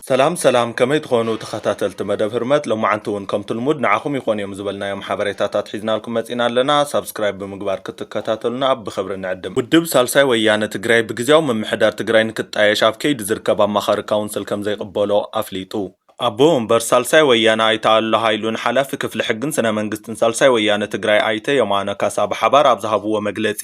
ሰላም ሰላም ከመይ ትኾኑ ተኸታተልቲ መደብ ህርመት ሎማዓንቲ ውን ከምቲ ልሙድ ንዓኹም ይኾኑ እዮም ዝበልናዮም ሓበሬታታት ሒዝናልኩም መጺና ኣለና ሳብስክራይብ ብምግባር ክትከታተሉና ብ ብኽብሪ ንዕድም ውድብ ሳልሳይ ወያነ ትግራይ ብግዝያዊ ምምሕዳር ትግራይ ንክጣየሽ ኣብ ከይዲ ዝርከብ ኣማኻሪ ካውንስል ከምዘይቕበሎ ኣፍሊጡ። ኣቦ ወንበር ሳልሳይ ወያነ ኣይተ ኣሉላ ሃይሉን ሓላፊ ክፍሊ ሕግን ስነ መንግስትን ሳልሳይ ወያነ ትግራይ ኣይተ የማነ ካሳ ብሓባር ኣብ ዝሃብዎ መግለፂ፣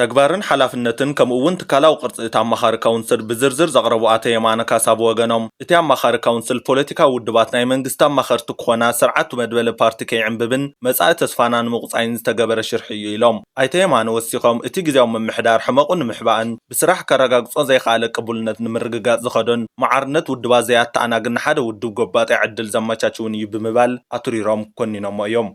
ተግባርን ሓላፍነትን ከምኡ እውን ትካላዊ ቅርፂ እቲ ኣማኻሪ ካውንስል ብዝርዝር ዘቕረቡ ኣቶ የማነ ካሳ ብወገኖም፣ እቲ ኣማኻሪ ካውንስል ፖለቲካዊ ውድባት ናይ መንግስቲ ኣማኸርቲ ክኾና ስርዓቱ መድበለ ፓርቲ ከይዕምብብን መፃኢ ተስፋና ንምቑፃይን ዝተገበረ ሽርሒ እዩ ኢሎም። ኣይተ የማነ ወሲኾም፣ እቲ ግዝያዊ ምምሕዳር ሕመቑ ንምሕባእን ብስራሕ ከረጋግፆ ዘይኸኣለ ቅቡልነት ንምርግጋፅ ዝኸዶን ማዕርነት ውድባት ዘይኣተኣናግን ንሓደ ውድብ ጎባጣይ ዕድል ዘመቻችውን እዩ ብምባል ኣትሪሮም ኮኒኖሞ እዮም።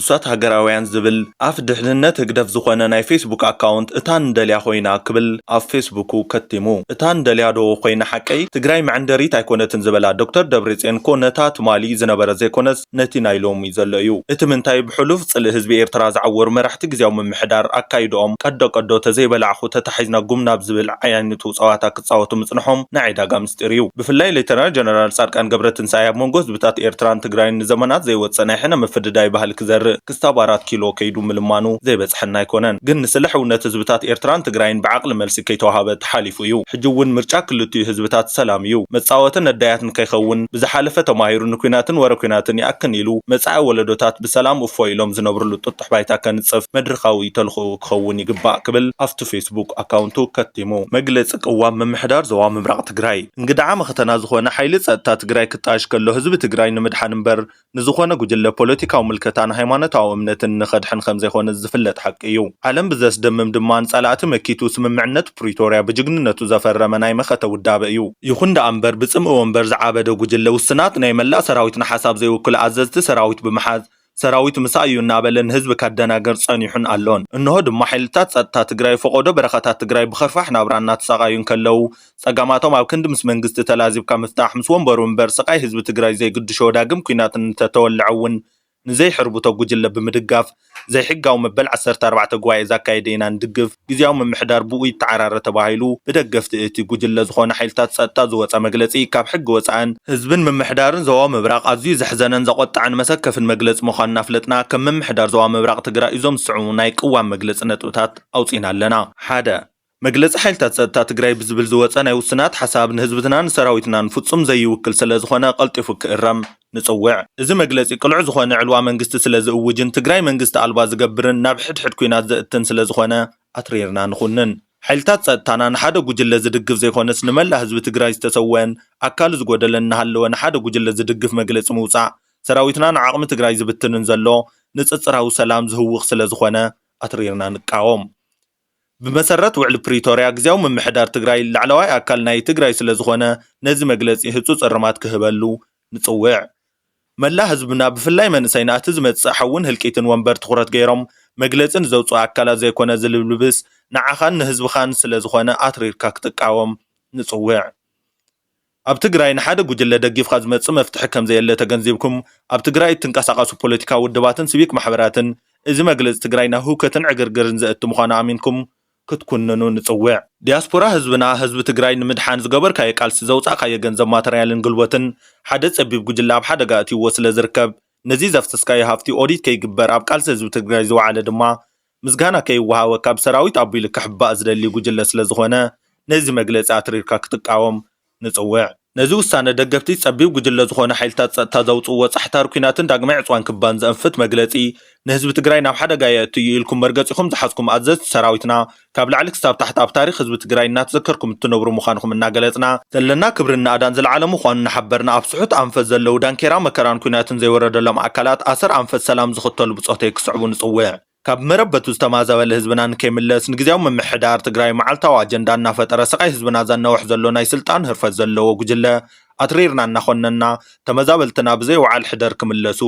ንሳት ሃገራውያን ዝብል ኣፍ ድሕንነት ህግደፍ ዝኾነ ናይ ፌስቡክ ኣካውንት እታ ንደልያ ኮይና ክብል ኣብ ፌስቡኩ ከቲሙ። እታ ንደልያ ዶ ኮይና ሓቀይ? ትግራይ መዐንደሪት ኣይኮነትን ዝበላ ዶክተር ደብሬጽዮን እኮ ነታ ትማሊ ዝነበረ ዘይኮነስ ነቲ ናይ ሎሚ ዘሎ እዩ። እቲ ምንታይ ብሕሉፍ ጽልኢ ህዝቢ ኤርትራ ዝዓወሩ መራሕቲ ግዝያዊ ምምሕዳር ኣካይድኦም ቀዶ ቀዶ ተዘይበላዕኹ ተታሒዝና ጉም ናብ ዝብል ዓይነቱ ጸዋታ ክጻወቱ ምጽንሖም ናይ ዒዳጋ ምስጢር እዩ። ብፍላይ ሌተናል ጀነራል ጻድቃን ገብረትንሳኤ ኣብ መንጎ ህዝብታት ኤርትራን ትግራይን ንዘመናት ዘይወጸ ናይ ሕነ ምፍድዳይ ባህሊ ክዘርእ ክስታብ ኣራት ኪሎ ከይዱ ምልማኑ ዘይበጽሐና ኣይኮነን። ግን ንስለ ሕውነት ህዝብታት ኤርትራን ትግራይን ብዓቕሊ መልሲ ከይተዋሃበ ተሓሊፉ እዩ። ሕጂ እውን ምርጫ ክልቲኡ ህዝብታት ሰላም እዩ። መጻወቲ ነዳያት ንከይኸውን ብዝሓለፈ ተማሂሩ ንኲናትን ወረ ኲናትን ይኣክን ኢሉ መጻኢ ወለዶታት ብሰላም እፎይ ኢሎም ዝነብርሉ ጥጡሕ ባይታ ከንጽፍ መድርኻዊ ተልኾኡ ክኸውን ይግባእ ክብል ኣብቲ ፌስቡክ ኣካውንቱ ከቲሙ። መግለፂ ቅዋም ምምሕዳር ዞባ ምብራቕ ትግራይ እንግድዓ መኸተና ዝኾነ ሓይሊ ፀጥታ ትግራይ ክጣየሽ ከሎ ህዝቢ ትግራይ ንምድሓን እምበር ንዝኾነ ጉጅለ ፖለቲካዊ ምልከታን ሃይማኖታዊ እምነትን ንኸድሕን ከምዘይኾነ ዝፍለጥ ሓቂ እዩ። ዓለም ብዘስደምም ድማ ንፀላእቲ መኪቱ ስምምዕነት ፕሪቶርያ ብጅግንነቱ ዘፈረመ ናይ መኸተ ውዳበ እዩ። ይኹን ደኣ እምበር ብፅምኢ ወንበር ዝዓበደ ጉጅለ ውስናት ናይ መላእ ሰራዊትና ሓሳብ ዘይውክሉ ኣዘዝቲ ሰራዊት ብምሓዝ ሰራዊት ምሳይ እዩ እናበለ ንህዝቢ ከደናግር ፀኒሑን ኣሎን። እንሆ ድማ ሓይልታት ፀጥታ ትግራይ ፈቖዶ በረኻታት ትግራይ ብኸርፋሕ ናብራ እናተሳቓዩ እንከለዉ፣ ፀገማቶም ኣብ ክንዲ ምስ መንግስቲ ተላዚብካ ምፍታሕ ምስ ወንበሩ እምበር ስቓይ ህዝቢ ትግራይ ዘይግድሾ ዳግም ኲናት እንተተወልዐ እውን ንዘይሕርብቶ ጉጅለ ብምድጋፍ ዘይሕጋዊ መበል ዓሰርተ ኣርባዕተ ጉባኤ ዛካየደ ኢና ንድግፍ ግዝያዊ ምምሕዳር ብኡ ይተዓራረ ተባሂሉ ብደገፍቲ እቲ ጉጅለ ዝኾኑ ሓይልታት ፀጥታ ዝወፀ መግለፂ ካብ ሕጊ ወፃእን ህዝብን ምምሕዳርን ዞባ ምብራቕ ኣዝዩ ዘሕዘነን ዘቖጠዐን መሰከፍን መግለፂ ምዃኑ እናፍለጥና ከም ምምሕዳር ዞባ ምብራቕ ትግራይ እዞም ዝስዕቡ ናይ ቅዋም መግለፂ ነጥብታት ኣውፂእና ኣለና። ሓደ። መግለፂ ሓይልታት ፀጥታ ትግራይ ብዝብል ዝወፀ ናይ ውሱናት ሓሳብ ንህዝብትናን ንሰራዊትናን ፍፁም ዘይውክል ስለዝኾነ ቀልጢፉ ክእረም። ንፅውዕ። እዚ መግለፂ ቅሉዕ ዝኾነ ዕልዋ መንግስቲ ስለ ዝእውጅን ትግራይ መንግስቲ ኣልባ ዝገብርን ናብ ሕድ ሕድ ኩናት ዘእትን ስለ ዝኾነ ኣትሪርና ንኹንን። ሓይልታት ፀጥታና ንሓደ ጉጅለ ዝድግፍ ዘይኾነስ ንመላእ ህዝቢ ትግራይ ዝተሰወእን ኣካሉ ዝጎደለን እናሃለወ ንሓደ ጉጅለ ዝድግፍ መግለፂ ምውፃእ ሰራዊትና ንዓቕሚ ትግራይ ዝብትንን ዘሎ ንፅፅራዊ ሰላም ዝህውኽ ስለ ዝኾነ ኣትሪርና ንቃወም። ብመሰረት ውዕሊ ፕሪቶርያ ግዝያዊ ምምሕዳር ትግራይ ላዕለዋይ ኣካል ናይ ትግራይ ስለዝኾነ ነዚ መግለፂ ህፁፅ እርማት ክህበሉ ንፅውዕ። መላእ ህዝብና ብፍላይ መንእሰይና እቲ ዝመፅእ ሓውን ህልቂትን ወንበር ትኹረት ገይሮም መግለፂ ንዘውፅኡ ኣካላት ዘይኮነ ዝልብልብስ ንዓኻን ንህዝብኻን ስለዝኾነ ኣትሪርካ ክትቃወም ንፅውዕ። ኣብ ትግራይ ንሓደ ጉጅለ ደጊፍካ ዝመፅእ መፍትሒ ከምዘየለ ተገንዚብኩም ኣብ ትግራይ እትንቀሳቐሱ ፖለቲካዊ ውድባትን ሲቪክ ማሕበራትን እዚ መግለፂ ትግራይ ናብ ህውከትን ዕግርግርን ዘእቱ ምዃኑ ኣሚንኩም ክትኩንኑ ንፅውዕ። ዲያስፖራ ህዝብና ህዝቢ ትግራይ ንምድሓን ዝገበርካዮ ቃልሲ ዘውፃእካዮ ገንዘብ ማተርያልን ግልቦትን ሓደ ፀቢብ ጉጅለ ኣብ ሓደጋ ኣእትይዎ ስለዝርከብ ነዚ ዘፍሰስካዮ ሃፍቲ ኦዲት ከይግበር ኣብ ቃልሲ ህዝቢ ትግራይ ዝወዓለ ድማ ምስጋና ከይወሃቦ ካብ ሰራዊት ኣቢሉ ክሕባእ ዝደሊ ጉጅለ ስለዝኾነ ነዚ መግለፂ ኣትሪርካ ክትቃወም ንፅውዕ። ነዚ ውሳነ ደገፍቲ ፀቢብ ጉጅለ ዝኾኑ ሓይልታት ፀጥታ ዘውፅእዎ ፃሕታር ኲናትን ዳግማይ ዕፅዋን ክባን ዘእንፍት መግለፂ ንህዝቢ ትግራይ ናብ ሓደጋ የእቱ እዩ ኢልኩም መርገፂኹም ዝሓዝኩም ኣዘዝቲ ሰራዊትና ካብ ላዕሊ ክሳብ ታሕቲ ኣብ ታሪኽ ህዝቢ ትግራይ እናተዘከርኩም እትነብሩ ምዃንኹም እናገለፅና ዘለና ክብርን ናእዳን ዝለዓለ ምዃኑ እናሓበርና ኣብ ስሑት ኣንፈት ዘለዉ ዳንኬራ መከራን ኲናትን ዘይወረደሎም ኣካላት ኣሰር ኣንፈት ሰላም ዝኽተሉ ብፆተይ ክስዕቡ ንፅውዕ። ካብ መረበቱ ዝተማዛበለ ህዝብና ንከይምለስ ንግዝያዊ ምምሕዳር ትግራይ መዓልታዊ ኣጀንዳ እናፈጠረ ስቓይ ህዝብና ዘናውሕ ዘሎ ናይ ስልጣን ህርፈት ዘለዎ ጉጅለ ኣትሪርና እናኾነንና ተመዛበልትና ብዘይ ውዓል ሕደር ክምለሱ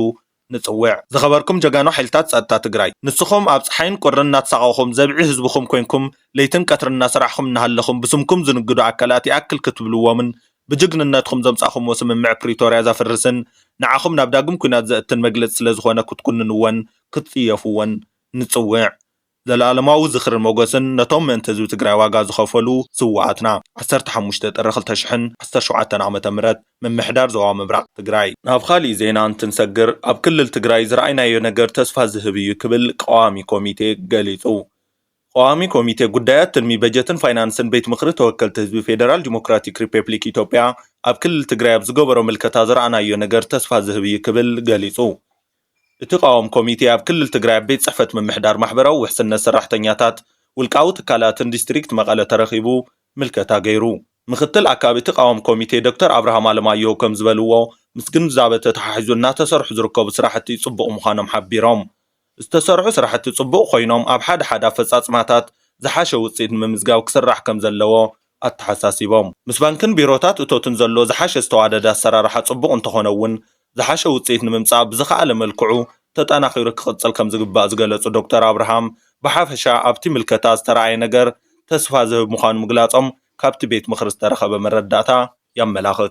ንፅውዕ። ዝኸበርኩም ጀጋኑ ሓይልታት ፀጥታ ትግራይ ንስኹም ኣብ ፀሓይን ቁርን እናተሳቐኹም ዘብዒ ህዝብኹም ኮይንኩም ለይትን ቀትርን እናሰራሕኹም እናሃለኹም ብስምኩም ዝንግዱ ኣካላት ይኣክል ክትብልዎምን ብጅግንነትኹም ዘምፃእኹምዎ ስምምዕ ፕሪቶርያ ዘፍርስን ንዓኹም ናብ ዳግም ኲናት ዘእትን መግለፂ ስለዝኾነ ክትኩንንዎን ክትፅየፍዎን ንፅውዕ። ዘልኣለማዊ ዝኽርን ሞገስን ነቶም ምእንቲ ህዝቢ ትግራይ ዋጋ ዝኸፈሉ ስውኣትና። ዓሰርተ ሓሙሽተ ጥሪ ክልተ ሽሕን ዓሰርተ ሸውዓተን ዓመተ ምህረት ምምሕዳር ዞባ ምብራቕ ትግራይ። ናብ ኻሊእ ዜና እንትንሰግር ኣብ ክልል ትግራይ ዝረኣይናዮ ነገር ተስፋ ዝህብ እዩ ክብል ቀዋሚ ኮሚቴ ገሊፁ። ቐዋሚ ኮሚቴ ጉዳያት ትልሚ በጀትን ፋይናንስን ቤት ምኽሪ ተወከልቲ ህዝቢ ፌደራል ዲሞክራቲክ ሪፐፕሊክ ኢትዮጵያ ኣብ ክልል ትግራይ ኣብ ዝገበሮ ምልከታ ዝረኣናዮ ነገር ተስፋ ዝህብ እዩ ክብል ገሊፁ። እቲ ቃዋሚ ኮሚቴ ኣብ ክልል ትግራይ ኣብ ቤት ፅሕፈት ምምሕዳር ማሕበራዊ ውሕስነት ሰራሕተኛታት ውልቃዊ ትካላትን ዲስትሪክት መቐለ ተረኺቡ ምልከታ ገይሩ። ምክትል ኣካቢ እቲ ቃዋሚ ኮሚቴ ዶክተር ኣብርሃም ኣለማየሁ ከምዝበልዎ፣ ምስ ግንዛበ ተተሓሒዙ እናተሰርሑ ዝርከቡ ስራሕቲ ፅቡቕ ምዃኖም ሓቢሮም። ዝተሰርሑ ስራሕቲ ፅቡቕ ኮይኖም ኣብ ሓደ ሓደ ኣፈፃፅማታት ዝሓሸ ውፅኢት ንምምዝጋብ ክስራሕ ከምዘለዎ ኣተሓሳሲቦም። ምስ ባንክን ቢሮታት እቶትን ዘሎ ዝሓሸ ዝተዋደደ ኣሰራርሓ ፅቡቕ እንተኾነ እውን ዝሓሸ ውፅኢት ንምምፃእ ብዝኸኣለ መልክዑ ተጠናኺሩ ክቕፅል ከምዝግባእ ዝገለፁ ዶክተር ኣብርሃም ብሓፈሻ ኣብቲ ምልከታ ዝተርኣየ ነገር ተስፋ ዝህብ ምዃኑ ምግላፆም ካብቲ ቤት ምኽሪ ዝተረኸበ መረዳእታ የመላኽት።